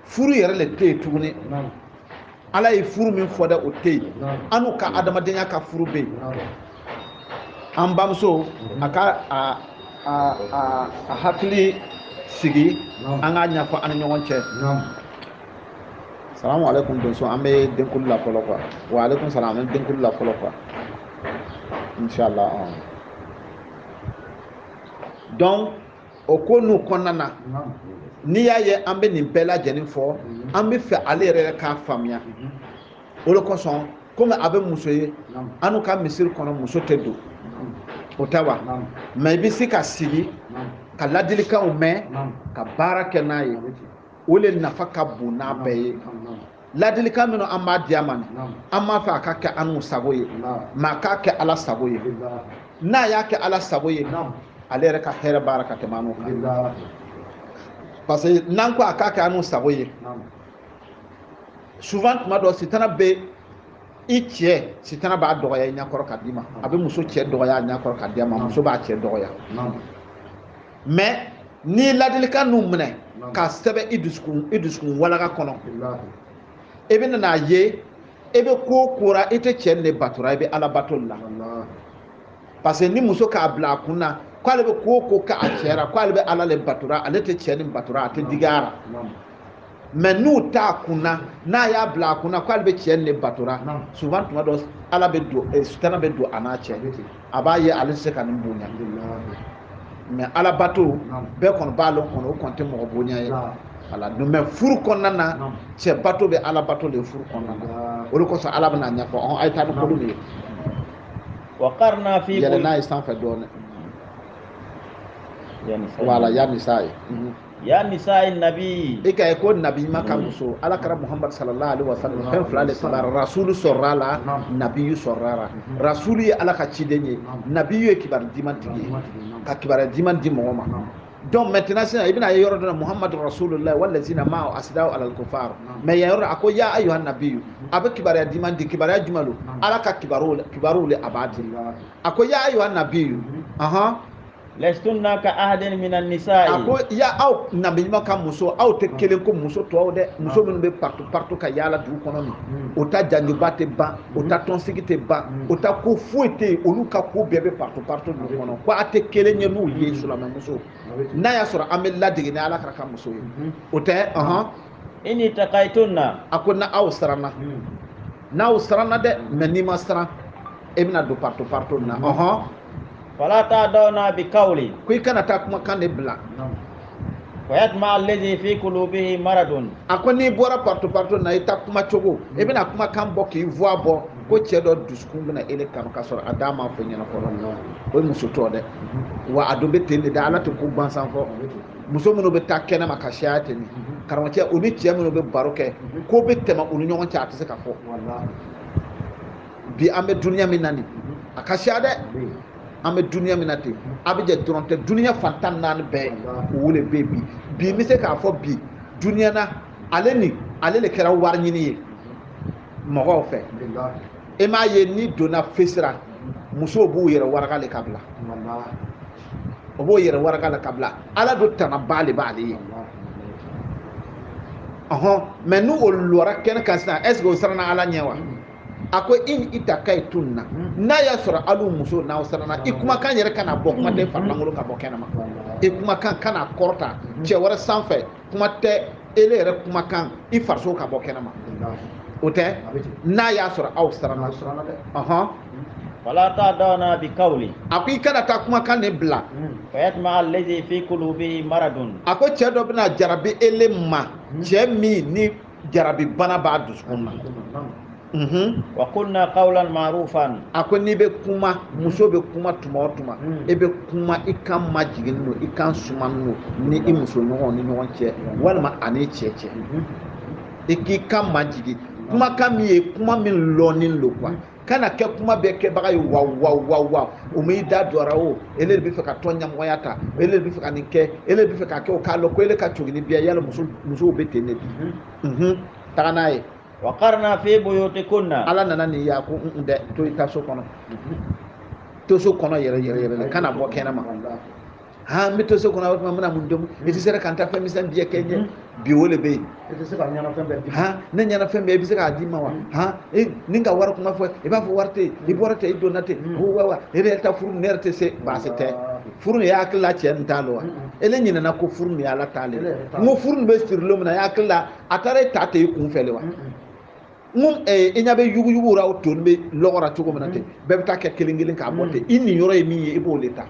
furu yɛrɛ le tɛ yen tuguni ala ye furu min fɔ dɛ o tɛ yen anu ka adamadenya ka furu bɛ yen an bamuso a ka a hakili sigi an k'a ɲɛfɔ an ni ɲɔgɔn cɛ salamu aleykum donso an bɛ denkuli la fɔlɔ quoi wa aleykum salam an bɛ denkuli la fɔlɔ quoi inshallah donc o ko ninnu kɔnɔna na n'i y'a ye an bɛ nin bɛɛ lajɛlen fɔ an b'a fɛ ale yɛrɛ k'a faamuya o le kosɔn komi a bɛ muso ye anu ka misiri kɔnɔ muso tɛ don o tɛ wa mais i bɛ se ka sigi ka ladilikanw mɛn ka baara kɛ n'a ye o le nafa ka bon n'a bɛɛ ye ladilikan minnu an b'a di a ma an m'a fɔ a k'a kɛ anu sago ye mais a k'a kɛ ala sago ye n'a y'a kɛ ala sago ye ale yɛrɛ ka hɛrɛ b'a ra ka tɛmɛ anu kan parce que n'an ko a k'a kɛ anu sago ye souvent tuma dɔ sitana bɛ i cɛ sitana b'a dɔgɔya i ɲɛkɔrɔ k'a d'i ma a bɛ muso cɛ dɔgɔya a ɲɛkɔrɔ k'a di a ma muso b'a cɛ dɔgɔya mais n'i ladilikan ninnu minɛ k'a sɛbɛn i dusukun walaga kɔnɔ i bɛna n'a ye i bɛ ko o ko la i tɛ cɛ nin de batora i bɛ ala bato la parce que ni muso k'a bila a kun na k'ale bɛ ko o ko kɛ a cɛ la k'ale bɛ ala le batora ale tɛ cɛ nin batora a tɛ digi a la mais n'o t'a kunna n'a y'a bila a kunna k'ale bɛ cɛ nin de batora souvent tuma dɔ ala bɛ don eh, sitana bɛ don a n'a cɛ a b'a ye ale tɛ se ka nin bonya mais ala bato bɛɛ kɔni b'a lɔn ko o kɔni tɛ mɔgɔ bonya ye ala don mais furu kɔnɔna na cɛ bato bɛ ala bato le furu kɔnɔna na o de kosɔn ala bɛn'a ɲɛfɔ ɔn a ye taa ni kolo de ye yɛlɛ n'a ye sanfɛ dɔɔnin wala yanni sa ye ya nisa'i nabi i k'a ye ko nabi ɲuman ka muso ala kira muhammad sallallahu alaihi wasallam fɛn fila de sɔrɔla rasulu sɔrɔla la nabiyu sɔrɔla la rasulu ye ala ka ciden ye nabiyu ye kibaru diman tigi ye ka kibaru diman di mɔgɔ ma donc maintenant sisan i bɛna ye yɔrɔ dɔ la muhammadu rasulullah walazina ma'ahu asidaw alal kufar mais yan yɔrɔ a ko ya ayuha nabiyu a bɛ kibaruya diman di kibaruya jumɛn don ala ka kibaruw le a b'a di a ko ya ayuha nabiyu ahan lastunna ka ahadin min an-nisa'i a ko ya aw nabi ɲuman ka muso aw tɛ hmm. kelen ko muso tɔw dɛ hmm. muso minnu bɛ partout partout ka yaala dugu kɔnɔ nin hmm. o ta janjuba tɛ ban o ta tɔnsigi tɛ ban o ta ko foyi tɛ yen olu ka ko bɛɛ bɛ partout partout dugu kɔnɔ ko a tɛ kelen ye n'u ye silamɛmuso n'a y'a sɔrɔ an bɛ ladege ni ala kira ka muso ye o tɛ ɔhɔn ini takaitunna a ko na aw siranna n'aw siranna dɛ mais n'i ma siran e bɛna don partout partout na ɔhɔn fala takhda'na bi kawli ko i kana taa kumakan de bila fayatuma alladhi fi qulubihi maradun a ko n'i bɔra partout partout na i ta kuma cogo i bɛna kumakan bɔ k'i voix bɔ ko cɛ dɔ dusukun bɛna ele kanu ka sɔrɔ a da m'a fɔ ɲɛna fɔlɔ o ye muso tɔ dɛ wa a dɔ bɛ ten de dɛ ala tɛ ko gansan fɔ muso minnu bɛ taa kɛnɛ ma ka siya ten mhm. karamɔgɔcɛ u ni cɛ minnu bɛ baro kɛ mhm. ko bɛ tɛmɛ u ni ɲɔgɔn cɛ a tɛ se ka fɔ bi an bɛ duniya min na nin mhm. a ka siya dɛ an bɛ duniya min na ten Abidjan dɔrɔn tɛ duniya fan tan ni naani bɛɛ o de bɛ bi bi n bɛ se k'a fɔ bi duniya na ale ni ale de kɛra wari ɲini ye mɔgɔw fɛ e m'a ye n'i donna fesi ra musow b'u yɛrɛ waraka le ka bila o b'o yɛrɛ waraka le ka bila ala do tanaba le b'ale ye ɔhɔn mais ni o lɔra kɛnɛ kan sisan est-ce que o siranna ala ɲɛ wa a ko ini takaitunna n'a y'a sɔrɔ alu musow n'aw siranna i kumakan yɛrɛ kana bɔ kuma tɛ farilankolon ka bɔ kɛnɛma i kumakan kana kɔrɔta cɛ wɛrɛ sanfɛ kuma tɛ ele yɛrɛ kumakan i fariso ka bɔ kɛnɛma o tɛ n'a y'a sɔrɔ aw siranna ɔhɔn fala takhda'na bi kawli a ko i kana taa kumakan ne bila fayatuma allazi fi qulubihi maradun a ko cɛ dɔ bɛna jarabi ele ma cɛ min ni jarabi bana b'a dusukun na mhm. wa qulna qawlan ma'rufan a ko n'i bɛ kuma muso bɛ kuma tuma o tuma mm. e bɛ kuma i kan majiginnin don i kan sumanin don ni i muso ɲɔgɔn ni ɲɔgɔn cɛ walima a n'i cɛ cɛ mhm. i k'i kan majigin kumakan min ye kuma min lɔɔnin don quoi kana kɛ kuma bɛɛ kɛbaga ye wa wa wa wa o m'i da dɔra o ele de bɛ fɛ ka tɔn ɲɛmɔgɔya ta ele de bɛ fɛ ka nin kɛ ele de bɛ fɛ ka kɛ o k'a lɔ ko ele ka cogini biya yala musow bɛ ten de bi mhm. mhm. taga n'a ye. wa karna fi buyutikunna. ala nana nin y'a ko dɛ to i ta so kɔnɔ mhm. to so kɔnɔ yɛrɛ yɛrɛ yɛrɛ la kana bɔ kɛnɛma. aa n bɛ to so kɔnɔ o tuma n bɛna mun domu i tɛ se ka n ta fɛn misɛn biyɛ kɛ n ɲɛ bi o de bɛ yen i tɛ se ka ɲɛna fɛn bɛɛ di han ne ɲɛna fɛn bɛɛ i bɛ se k'a di n ma wa han ni n ka wari kuma fɔ i b'a fɔ wari tɛ yen i bɔra ten i donna ten ko wa wa e yɛrɛ ta furu ne yɛrɛ tɛ se baasi tɛ furu nin i hakili la cɛ nin t'a la wa e le ɲinɛna ko furu nin y'ala ta le n ko furu nin bɛ siri don min na i hakili la a taara e ta ten i kun fɛ de wa mun eh, i ɲɛ bɛ yuguyugu la o tonnin bɛ lɔgɔ ra cogo min na ten mm-hmm. bɛɛ bɛ taa kɛ kelen kelen k'a bɔ ten mm-hmm. i nin yɔrɔ ye min ye i b'o de ta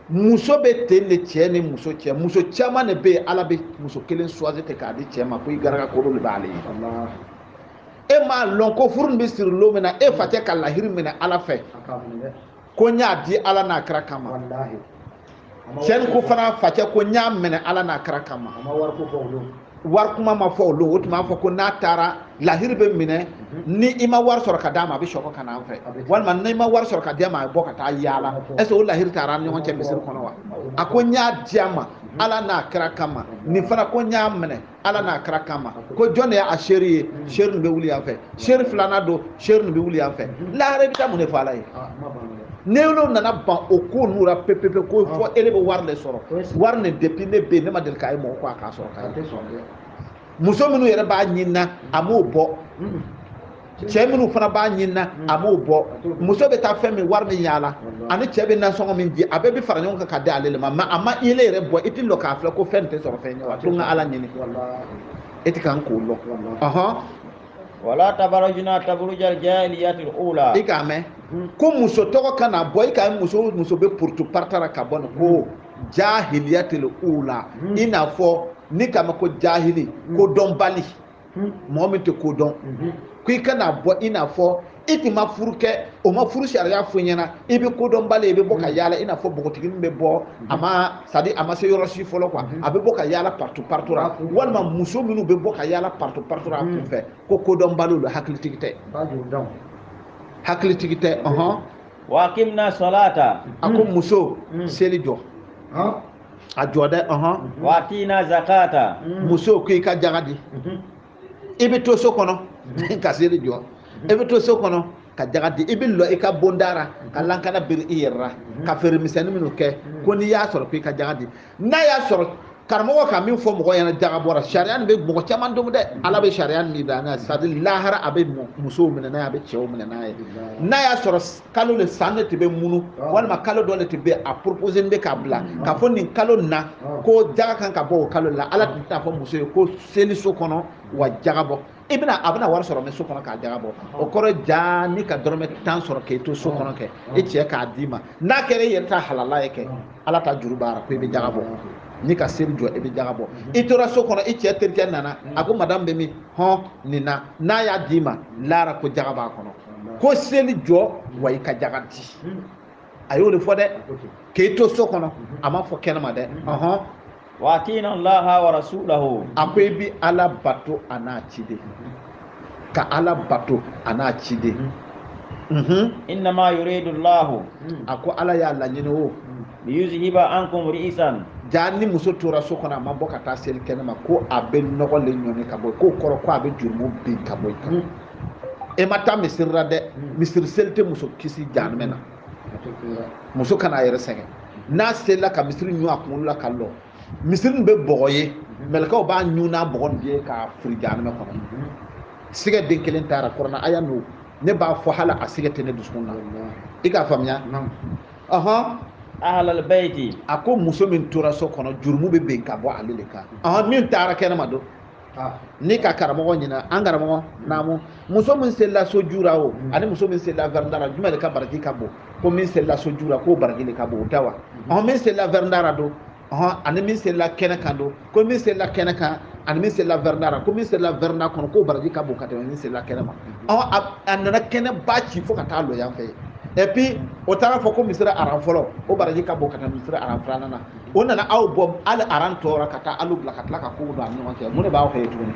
muso bɛ ten de cɛ ni muso cɛ muso caman de bɛ yen ala bɛ muso kelen choisir ten k'a di cɛ ma ko i garaga kolo de b'ale ye e m'a lɔn ko furu nin bɛ siri lon min na e facɛ ka lahiri minɛ ala fɛ ko n y'a di ala n'a kira kama cɛ nin ko fana facɛ ko n y'a minɛ ala n'a kira kama wari kuma ma fɔ o lon o tun b'a fɔ ko n'a taara lahiri bɛ minɛ ni i ma wari sɔrɔ ka d'a ma a bɛ sekɔ ka n'an fɛ walima n'i ma wari sɔrɔ ka d'a ma a bɛ bɔ ka taa yaala est-ce que o lahiri tara an ɲɔgɔn cɛ misiri kɔnɔ wa a ko n y'a di a ma ala n'a kira kama nin fana ko n y'a minɛ ala n'a kira kama ko jɔn de y'a seere ye seere nin bɛ wuli yan fɛ seere filanan don seere nin bɛ wuli yan fɛ lahara i bɛ taa mun de fɔ ala ye n'olu nana ban o ko n'u la pepepe ko fo e de bɛ wari de sɔrɔ wari nin depuis ne bɛ yen ne ma deli k'a ye mɔgɔ ko a k'a sɔrɔ k'a ye muso minnu yɛrɛ b'a ɲinina a m'o bɔ cɛ minnu fana b'a ɲini na a m'o bɔ muso bɛ taa fɛn min wari min yaala ani cɛ bɛ nasɔngɔ min di a bɛɛ bɛ fara ɲɔgɔn kan ka di ale de ma mais a ma i le yɛrɛ bɔ i tɛ lɔ k'a filɛ ko fɛn tɛ sɔrɔ fɛn ye wa to n ka ala ɲini e tɛ kan k'o lɔ ɔhɔn wala tabarajuna tabarujal jahiliyatil ula i k'a mɛn ko muso tɔgɔ kana bɔ i komi muso muso bɛ partout partout ra ka bɔ nin ko jahiliyatil ula i n'a fɔ n'i k'a mɛn ko jahili kodɔnbali hmm. mɔgɔ min tɛ ko dɔn mhm. ko i kana bɔ i n'a fɔ i tun ma furu kɛ o ma furu sariya fɔ i ɲɛna i bɛ kodɔnbali i bɛ bɔ ka hmm. yaala i n'a fɔ npogotiginin bɛ bɔ hmm. a ma c'est-à-dire a ma se yɔrɔ si fɔlɔ quoi a bɛ bɔ ka yaala partout partout ra walima muso minnu bɛ bɔ ka yaala partout partout ra a kun fɛ ko kodɔnbaliw don hakilitigi tɛ hakilitigi tɛ ɔhɔn. wa akimna salata a ko muso seli jɔ. a jɔ dɛ ɔhɔn wa atina zakata muso ko i ka jaga di i bɛ to so kɔnɔ ka seli jɔ i bɛ to so kɔnɔ ka jaga di i bɛ lɔ i ka bonda ra ka lankana biri i yɛrɛ la ka feere misɛnnin minnu kɛ ko n'i y'a sɔrɔ ko i ka jaga di n'a y'a sɔrɔ karamɔgɔ ka min fɔ mɔgɔ ɲɛna jagabɔ ra sariya nin bɛ mɔgɔ caman domu dɛ ala bɛ sariya min da n'a ye c'est-à-dire lahara a bɛ musow minɛ n'a ye a bɛ cɛw minɛ n'a ye n'a y'a sɔrɔ kalo le san de tun bɛ munu ah. walima kalo dɔ de tun bɛ a propose bɛ k'a bila mm. k'a fɔ nin kalo na ah. ko jaga kan ka bɔ o kalo la ala tun t'a fɔ muso ye ko seli so kɔnɔ wa jaga bɔ i bɛna a bɛna wari sɔrɔ min so kɔnɔ k'a jaga bɔ ah. o kɔrɔ jaa n'i ka dɔrɔmɛ tan sɔrɔ k'e to so kɔnɔ kɛ i cɛ k'a d'i ma n'a kɛra i yɛrɛ ta halala ye kɛ ala ta juru b'a ra ko i bɛ jaga bɔ n'i ka seli jɔ i bɛ jaga bɔ i tora so kɔnɔ i cɛ terikɛ nana a ko madamu bɛ min hɔn nin na n'a y'a d'i ma laara ko jaga b'a kɔnɔ ko seli jɔ wa i ka jaga di a y'o de fɔ dɛ k'e to so kɔnɔ a m'a fɔ kɛnɛma dɛ ɔhɔn wa atiina llaha wa rasulahu a ko i bi ala bato a n'a ciden ka ala bato a n'a ciden innama yuridu llahu a ko ala y'a laɲini o liyuzhiba ankum rijsa jaa ni muso tora so kɔnɔ a ma bɔ ka taa seli kɛnɛma ko a bɛ nɔgɔ le ɲɔni ka bɔ k'o kɔrɔ ko a bɛ jurumu bin ka bɔ i kan e ma taa misiri la dɛ misiri seli tɛ muso kisi jahanamɛ na muso kana a yɛrɛ sɛgɛn n'a selila ka misiri ɲun a kunkolo la ka lɔ misiri bɛ bɔgɔ ye mɛlɛkɛw b'a ɲun n'a bɔgɔ nin ye k'a firi jahanamɛ kɔnɔ sigɛ den kelen t'a ra kurana aya n'o ne b'a fɔ hali a sigɛ tɛ ne dusukun na i k'a faamuya ɔhɔn ahalal bayti a ko muso min tora so kɔnɔ jurumu bɛ bin ka bɔ ale de kan ɔhɔn min taara kɛnɛma don ni ka karamɔgɔ ɲina an karamɔgɔ naamu muso min selila so ju ra o mm. ani muso min selila vɛrɛnda ra jumɛn de ka baraji ka bon ko min selila so ju ra k'o baraji de ka bon o tɛ wa ɔhɔn min selila vɛrɛnda ra don ɔhɔn ani min selila kɛnɛ kan don ko min selila kɛnɛ kan ani min selila vɛrɛnda la ko min selila vɛrɛnda kɔnɔ k'o baraji ka bon ka tɛmɛ min selila kɛnɛma ɔhɔn a nana kɛnɛba ci fo ka taa lɔ yan fɛ et puis o taara fɔ ko misiri aran fɔlɔ o baraji ka bon ka tɛmɛ misiri aran filanan na o nana aw bɔ hali aran tɔ ra ka taa alu bila ka tila ka kogo don a ni ɲɔgɔn cɛ mun de b'aw kɛ tuguni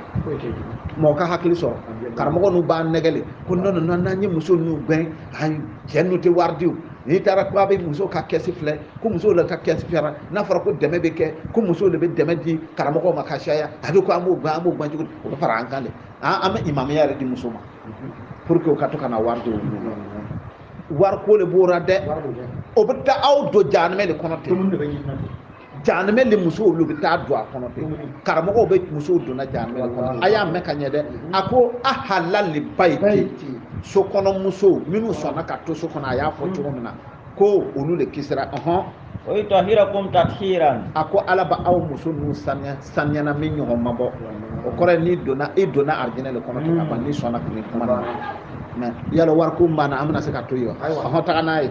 mɔgɔ ka hakili sɔrɔ karamɔgɔ ninnu b'a nɛgɛn le ko n'an ye muso ninnu gɛn ayi cɛ ninnu tɛ wari di n'i taara ko a bɛ muso ka kɛsi filɛ ko musow le ka kɛsi fara n'a fɔra ko dɛmɛ bɛ kɛ ko musow de bɛ dɛmɛ di karamɔgɔw ma ka caya a bɛ ko an b'o gɛn an b'o gɛn cogo di o bɛ fara an kan de an bɛ imamiya yɛrɛ di muso ma pour que o ka to ka na wari di olu ma wariko de b'o la dɛ o bɛ taa aw don jahanamɛ de kɔnɔ ten jahanamɛ le musow olu bɛ taa don a kɔnɔ ten karamɔgɔw bɛ musow donna jahanamɛ le kɔnɔ a y'a mɛn ka ɲɛ dɛ a ko ahalal bayti so kɔnɔ musow minnu sɔnna ka to so kɔnɔ a y'a fɔ cogo min na ko olu de kisira ɔhɔn wa yutahirakum tathira a ko ala b'a aw muso ninnu saniya saniyana min ɲɔgɔn ma bɔ o kɔrɔ ye n'i donna i donna arijinɛ le kɔnɔ ten ka ban n'i sɔnna kile kuma na mɛ yala wariko banna an bɛna se ka to yen wa ɔhɔn taga n'a ye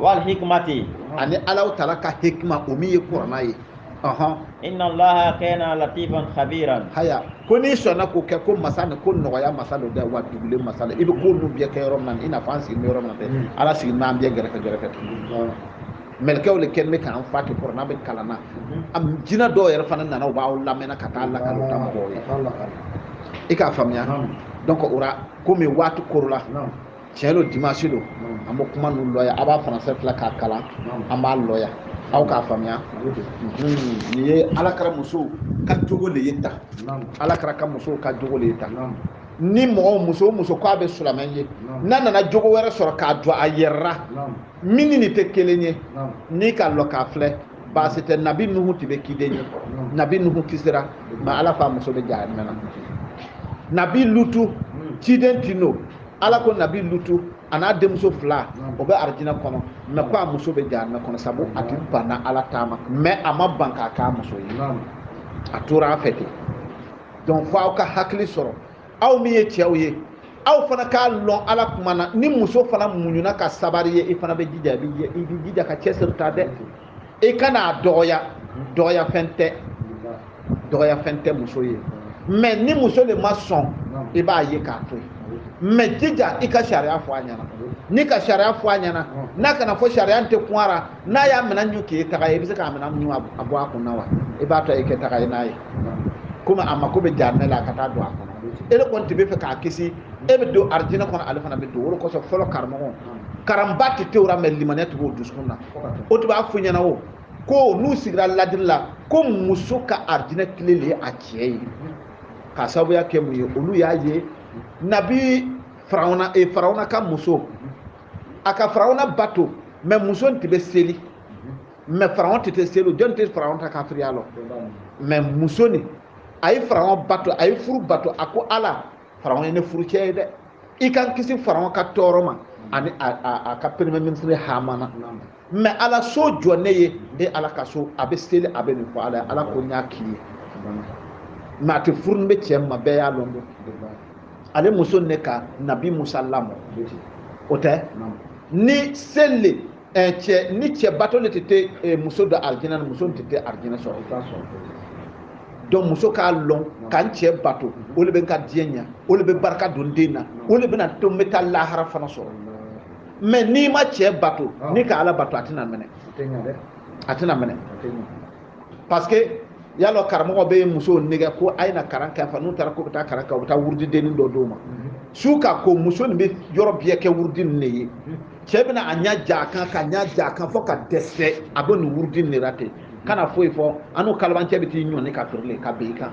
wal hikmati ani alaw tala ka hikma o min ye kurana ye inna allaha kana latifan khabiran haya ko n'i sɔnna k'o kɛ ko masa ni ko nɔgɔya masa don dɛ wa dugulen masa don i bɛ ko ninnu bɛɛ kɛ yɔrɔ min na i n'a fɔ an sigilen bɛ yɔrɔ min na dɛ hmm. ala sigilen bɛ an bɛɛ gɛrɛfɛ gɛrɛfɛ mɛlɛkɛw de kɛlen bɛ k'an fa ten kurana bɛ kalan na hmm. jinɛ dɔw yɛrɛ fana nana u b'aw lamɛnna ka taa lakali u ta mɔgɔw ye i k'a faamuya donc o la komi waati kɔrɔla tiɲɛ don dimanche don an bɛ kuma ninnu lɔya a b'a français filɛ k'a kalan an b'a lɔya aw k'a faamuya nin ye ala kira musow ka jogo de ye tan ala kira ka musow ka jogo de ye tan ni mɔgɔ muso o muso k'a bɛ silamɛ ye n'a nana jogo wɛrɛ sɔrɔ k'a jɔ a yɛrɛ la min ni nin tɛ kelen ye n'i ka lɔ k'a filɛ baasi tɛ nabi nuhu tun bɛ ciden ye nabi nuhu kisira mɛ ala f'a muso bɛ jahanamɛ na nabi lutu ciden tun don ala ko nabi lutu a n'a denmuso fila o bɛ arijinɛ kɔnɔ mɛ ko a muso bɛ jahanamɛ kɔnɔ sabu a tun banna ala ta ma mɛ a ma ban k'a k'a muso ye a tora a fɛ ten donc fo aw ka hakili sɔrɔ aw min ye cɛw ye aw fana k'a lɔn ala kumana ni muso fana muɲuna ka sabari ye i fana bɛ jija i bɛ jija ka cɛsiri ta dɛ i kana a dɔgɔya dɔgɔya fɛn tɛ dɔgɔya fɛn tɛ muso ye mɛ ni muso de ma sɔn i b'a ye k'a to yen mɛ jija i ka sariya fɔ a ɲɛna n'i ka sariya fɔ a ɲɛna n'a kana fɔ sariya tɛ kun a ra n'a y'a minɛ ɲu k'e taga ye i bɛ se k'a minɛ ɲu a bɔ a kun na wa i b'a to i kɛ taga ye n'a ye komi a mako bɛ jahanamɛ la a ka taa don a kɔnɔ e de kɔni tun b'a fɛ k'a kisi e bɛ don arijinɛ kɔnɔ ale fana bɛ don o de kosɔn fɔlɔ karamɔgɔ karanba tun tɛ u ra mɛ limaniya tun b'u dusukun na u tun b'a fɔ ɲɛna o ko n'u sigira ladiri la ko muso ka arijinɛ kile de ye a cɛ ye k'a sababuya kɛ mun ye olu y'a ye nabi farawuna e farawuna ka muso a ka farawuna bato mɛ muso tun bɛ seli mɛ farawuna tun tɛ seli jɔn tɛ farawuna ta kafiriya lɔn mɛ muso nin a ye farawuna bato a ye furu bato a ko ala farawuna ye ne furu cɛ ye dɛ i ka n kisi farawuna ka tɔɔrɔ ma ani a ka premier ministre hamana mɛ ala so jɔ ne ye e ala ka so a bɛ seli a bɛ nin fɔ ala ye ala ko n y'a k'i ye mɛ a tun furulen bɛ cɛ ma bɛɛ y'a lɔn don ale muso ne ka nabi musa lamɔ o tɛ ni seli eh, cɛ ni cɛ bato le tun tɛ muso don arijinɛ na muso tun tɛ arijinɛ sɔrɔ i t'a sɔrɔ donc muso k'a lɔn ka n cɛ bato o de bɛ n ka diɲɛ ɲa o de bɛ barika don den na o de bɛna to n bɛ taa lahara fana sɔrɔ mɛ n'i ma cɛ bato n'i ka ala bato a tɛna minɛ a tɛna minɛ parce que y'a lɔn karamɔgɔ bɛ musow nɛgɛ ko a ye na karan kɛ fa n'u taara k'u bɛ taa karan kɛ u bɛ taa wurudidennin dɔ d'u ma mhm. su ka ko muso nin bɛ yɔrɔ bɛɛ kɛ wurudi nin de ye mhm. cɛ bɛna a ɲɛ ja a kan ka ɲɛ ja a kan fo ka dɛsɛ a bɛ nin wurudi nin de la ten mhm. kana foyi fɔ an n'o kalabancɛ bɛ t'i ɲɔni ka feerelen ka bɛn i kan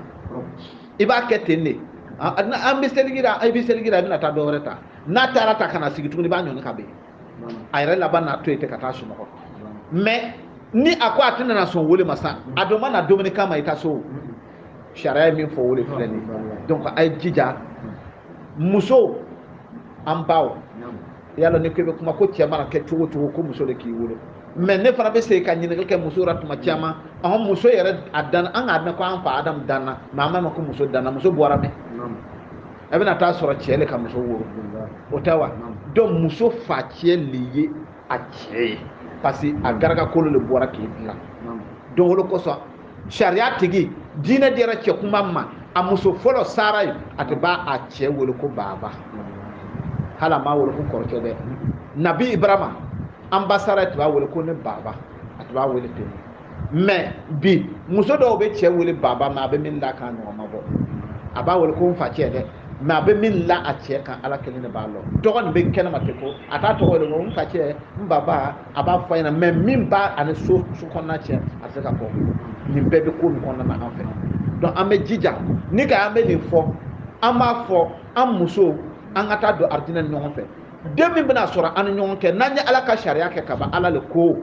i b'a kɛ ten de an bɛ seliji la i bɛ seliji la i bɛna taa dɔ wɛrɛ ta n'a taara ta ka na sigi tuguni i b'a ɲɔni ka bɛn a yɛrɛ laban n'a to yen ten ka taa sunɔgɔ mɛ ni a ko a tɛna na sɔn o le ma sa a dun ma na dumuni kama i ka so sariya ye min fɔ o le filɛ nin donc a ye jija muso an baw y'a lɔn ni ko bɛ kuma ko cɛ mana kɛ cogo o cogo ko muso de k'i wolo mɛ ne fana bɛ segin ka ɲininkali kɛ muso la tuma caman an muso yɛrɛ a dan an k'a mɛn ko an fa adamu danna mɛ an b'a mɛn ko muso danna muso bɔra min e bɛna t'a sɔrɔ cɛ le ka muso woro o tɛ wa donc muso facɛ le ye a cɛ ye parce que a garakakolo le bɔra k'i dilan donc o de kosɔn sariya tigi diinɛ dira cɛ kuma ma a muso fɔlɔ sara ye a tun b'a cɛ wele ko baaba hali a m'a wele ko kɔrɔkɛ dɛ nabi ibrahima an ba sara tun b'a wele ko ne baaba a tun b'a wele ten mɛ bi muso dɔw bɛ cɛ wele baba mɛ a bɛ min la k'a ɲɔgɔn ma bɔ a b'a wele ko n fa cɛ dɛ mɛ a bɛ min la a cɛ kan ala kelen de b'a lɔn tɔgɔ nin bɛ kɛnɛma ten ko a t'a tɔgɔ de ko n fa cɛ n baba a b'a fɔ a ɲɛna mɛ min b'a ani so kɔnɔna cɛ a tɛ se ka fɔ nin bɛɛ bɛ ko nin kɔnɔna na an fɛ donc an bɛ jija ni ka an bɛ nin fɔ an b'a fɔ an musow an ka taa don arijinɛ ni ɲɔgɔn fɛ den min bɛna sɔrɔ an ni ɲɔgɔn cɛ n'an ye ala ka sariya kɛ ka ban ala le ko